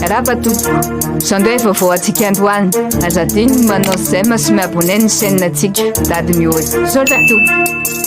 Raba tompoko, izao ndray vaovao antsika androany, aza adino ny manao j'aime sy mi-abonner ny chaîne antsika, dady miholy. Misaotra tompoko.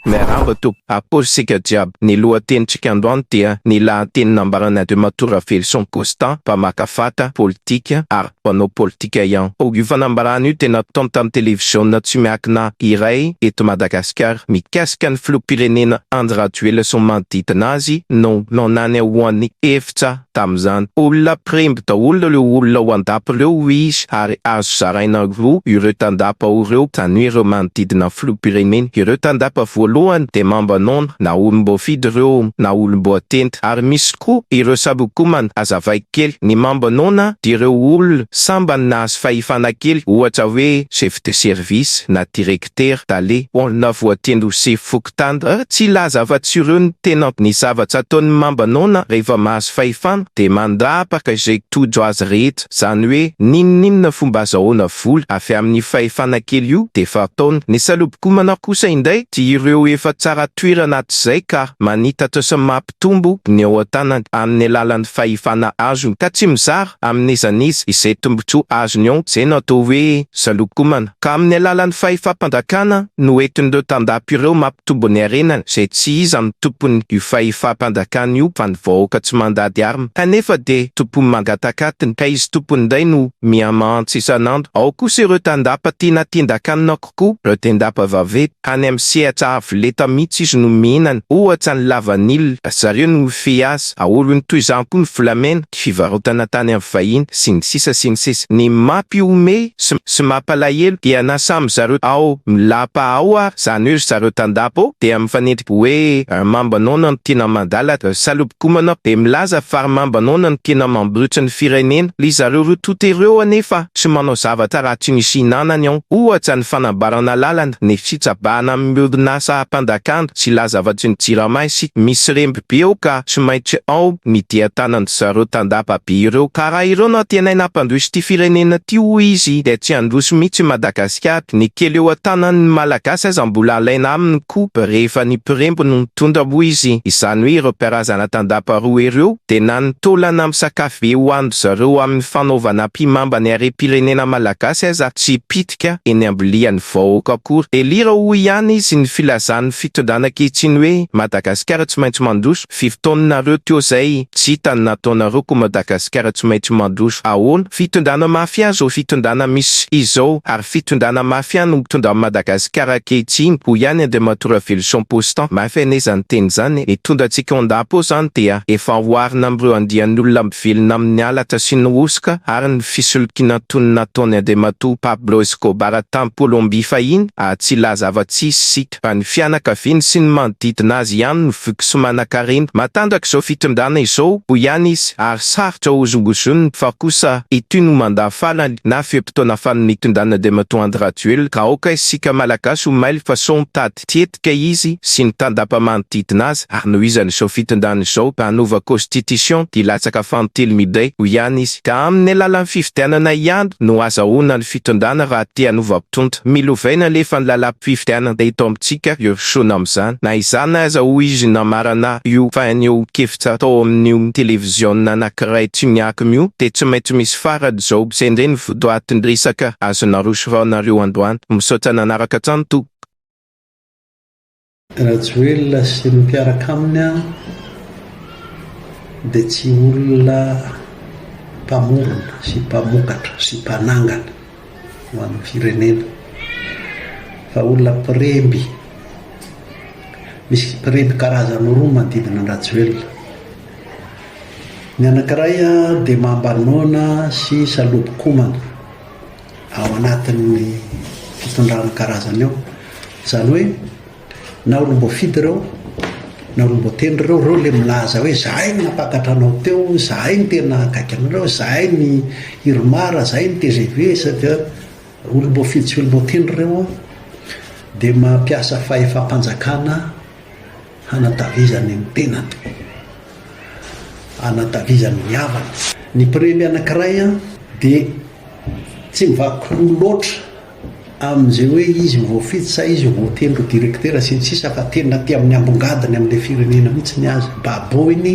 Miarahaba tompoko, akory isika jiaby, ny lohatenintsika androany dia ny lahateny nambaran' Andriamatoa Ravelison Constant, mpamaka fatra, politika, ary mpanao politika ihany koa. Io fanambarana io dia nataony tamin'ny televiziona tsy miankina iray eto Madagasikara, mikasika ny filoham-pirenena Andry Rajoelina sy ny manodidina azy no nananany ho an'ny efitra tamin'izany. Olona mpiremby daholo ireo olona ao an-dapa ireo hoy izy ary azo zaraina roa ireo tandapa ao ireo tany hoe ireo manodidina ny filoham-pirenena. Ireo tandapa voalohany dia mamba noana na olom-boafidy ireo na olom-boatendry ary misy koa ireo sabokomana. Azavaiko kely, ny mamba noana dia ireo olona sambany nahazo fahefana kely ohatra hoe chef de service na direktera, tale. Olona voatendry ho sefo. mpitandra, tsy hilaza afa-tsy ireo ny tena ny zavatra ataon'ny mamba noana rehefa mahazo fahefana dia mandrapaka izay tojo azy rehetra, izany hoe n'inon'inona fomba azo ahoana vola avy amin'io fahefana kely io dia efa ataony. Ny salobokomana kosa indray dia ireo efa tsara toerana hatrizay ka manitatra sy hampitombo ny eo an-tanany amin'ny alalan'ny fahefana azony ka tsy mizara amin'iza n'iza izay tombontsoa azony eo izay no atao hoe zalokomana ka amin'ny alalan'ny fahefam-panjakana no entin'ireo tandapa ireo mampitombo ny harenany izay tsy iza no tompon'io fahefam-panjakana io fa ny vahoaka tsy mandady arme kanefa dia tompon'ny mangatakatiny ka izy tompony indray no mihamantsy isan'andro ao kosa ireo tandapa tiana tindakanina Ku pretendapa vave any am sehatra avo leta mitsy izy no mihinana ohatra ny lavanila ry zareo no mifehy azy aolony toy izany koa ny volamena ny fivarotana tany am vahiny sy ny sisa sy ny sisa ny mapi homehy sy sy mapalahelo dia na samy zareo ao milapa ao ary zany hoe ry zareo tandapa ao dia mifanendry hoe mamba nono am tina mandala ry salob Gomana be milaza fa ry Mambanona no tena mambotry ny firenena. Ry zareo roa tonta ireo anefa tsy manao zavatra raha tsy misy hinanany ao. Ohatra ny fanambarana lalana, ny fitsabahana amin'ny orinasa mpandakandy sy lazavatry ny jirama isika. Misy remby be ao ka tsy maintsy ao ny dian-tanan'ry zareo tandapa be ireo. Ka raha ireo no antenaina hampandroso ity firenena ity hoy izy dia tsy handroso mihitsy i Madagasikara. matetika aby, ny kely eo an-tanan'ny Malagasy aza mbola alaina aminy koba rehefa ny mpiremby no mitondra moa izy, izany hoe ireo mpiarazana tandapa roa ireo dia na ny taolana misakafo be hohanin-dry zareo amin'ny fanaovana mpimamba ny harem-pirenena Malagasy aza tsy pitika eny am-bilian'ny vahoaka akory. Delira hoy ihany izy ny filazan'ny fitondrana ankehitriny hoe Madagasikara tsy maintsy mandroso. Firy taona nareo teo zay tsy hita ny nataonareo ko Madagascar tsy maintsy mandroso ahoana fitondrana mafia zao fitondrana misy izao ary fitondrana mafia no mitondra an'i Madagascar ankehitriny hoy ihany Andriamatoa Raveloson Postan mafy anie zany teny zany e mitondra antsika ondapa ao zany dia efa oharina amin'ireo andian'olona mivelona amin'ny halatra sy ny hosoka ary ny fisolokiana toy ny nataon'i Andriamatoa Pablo Escobar tany Colombie fahiny ah tsy lahy zava-tsisy sy fa ny fianakaviany sy ny manodidina azy ihany no voky sy manankarena. Matanjaka izao fitondrana izao, hoy ihany izy, ary sarotra hozongozonina, fa kosa ity no mandat farany na fe-potoana farany nitondrana andriamatoa Andry Rajoelina, ka aoka isika Malagasy ho mailo fa sao mitady tetika izy sy ny tandapa manodidina azy, ary nohizany izao fitondrana izao ka hanova constitution dia hilatsaka fanotilo midray, hoy ihany izy, ka amin'ny alalan'ny fifidianana ihany no hazahoana ny fitondrana raha te hanova Tonta. Milovaina lefa ny lalam-pifidianana eto amintsika io Shona amin'izany. Na izany aza hoy izy namarana ahy io fa anio kevitra tao amin'io televiziona anankiray Tuniacom io dia tsy maintsy misy farany izao. Sendrey ny votoatin-dresaka azonareo soraonareo androany. Misaotra nanaraka hatrany tompoko. Rajoelina sy ny mpiaraka aminy an dia tsy olona mpamorona sy mpamokatra sy mpanangana ho an'ny firenena fa olona mpiremby, misy mpiremby karazany roa manodidina an-dRajoelina, ny anankiray dia mamba noana sy salobo-komana. ao anatin'ny fitondrana karazany ao. Izany hoe na olom-boafidy ireo na olom-boatendry ireo, ireo ilay milaza hoe zahay no nampakatra anao teo, zahay no tena akaiky anareo, zahay ny Irmar, zahay ny TGV, sady olom-boafidy sy olom-boatendry ireo dia mampiasa fahefam-panjakana Hanatavizany ny tenany. Hanatavizany ny havany. Ny mpiremby anankiray dia tsy mivaky loha loatra amin'izay hoe izy ho voafidy sa izy ho voatendry ho direktera sy ny sisa fa tena aty amin'ny ambongadiny amin'ilay firenena mihitsy ny azy. Baboiny.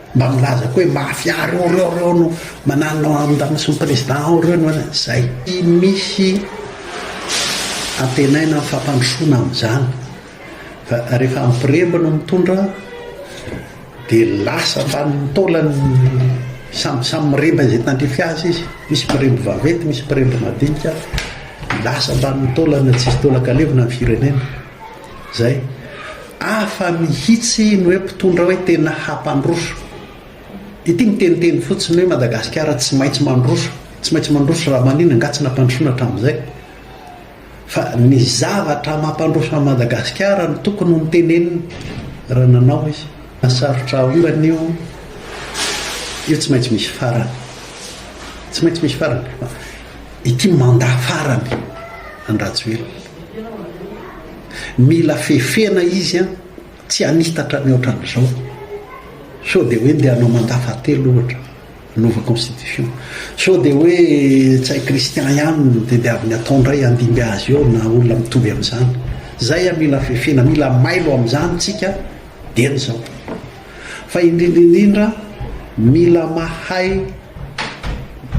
Mba milaza koa hoe mafia reo reo reo no mananona andaniny sy ny président ao reo no zay. Tsy misy antenaina ny fampandrosoana amin'izany fa rehefa ampiremby no mitondra dia lasa ambanin'ny taolany samy samy miremby izay tandrify azy izy, misy mpiremby vaventy misy mpiremby madinika, lasa ambanin'ny taolana tsisy taolan-kalevina ny firenena. Zay. Hafa mihitsy ny hoe mpitondra hoe tena hampandroso. Ity miteniteny fotsiny hoe Madagasikara tsy maintsy mandroso, tsy maintsy mandroso raha maninona angaha tsy nampandrosoina hatramin'izay. Fa ny zavatra mampandroso an'i Madagasikara no tokony ho noteneniny raha nanao izy. Sarotra haongana io, io tsy maintsy misy farany. Tsy maintsy misy farany. Ity mandat farany an'i Rajoelina. Mila fefena izy an! Tsy hanitatra ny ohatran'izao! Sao dia hoe ndeha hanao mandat fahatelo ohatra, hanova constitution. Sao dia hoe tsy hay Christian ihany no tediaviny hatao indray handimby azy eo na olona mitovy amin'izany. Izay an! Mila fefena, mila mailo amin'izany tsika dieny izao. Fa indrindra indrindra mila mahay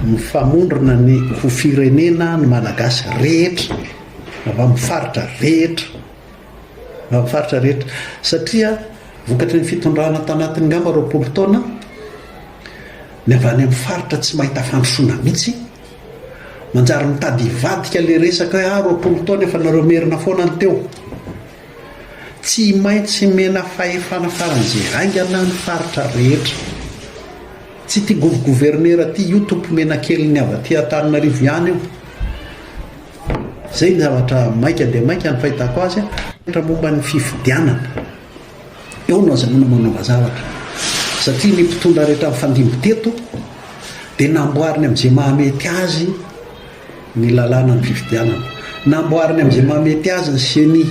mifamondrona ny ho firenena ny Malagasy rehetra avy amin'ny faritra rehetra avy amin'ny faritra rehetra satria vokatry ny fitondrana tanatin'ny angamba roapolo taona ny avy any amin'ny faritra tsy mahita fandrosoana mihitsy manjary mitady hivadika ilay resaka hoe ah roapolo taona efa nareo merina foana ny teo Tsy maintsy mena fahefana faran'izay haingana ny faritra rehetra. Tsy ity govy governera ity io tompo menakelin'ny avy aty Antananarivo ihany io. Zay ny zavatra maika dia maika ny fahitako azy an. Momba ny fifidianana. Eo no azahoana manova zavatra. Satria ny mpitondra rehetra nifandimby teto dia namboariny amin'izay mahamety azy ny lalàna ny fifidianana. Namboariny amin'izay mahamety azy ny ceni.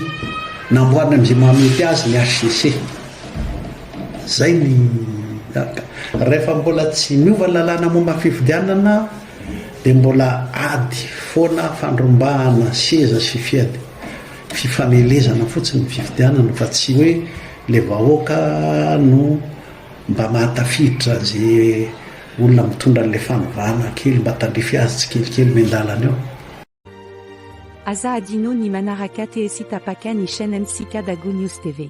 Namboariny amin'izay mahamety azy ny HCC. Zay ny rehefa mbola tsy niova ny lalàna momba ny fifidianana dia mbola ady foana fandrombahana seza sy fiady fifanelezana fotsiny ny fifidianana fa tsy hoe le vahoaka no mba mahatafiditra an'izay Olona mitondra an'ilay fanovana kely mba tandrify azy tsikelikely eny an-dalana eo. Aza adino ny manaraka TSy tapaka ny chaine ntsika Dago News TV.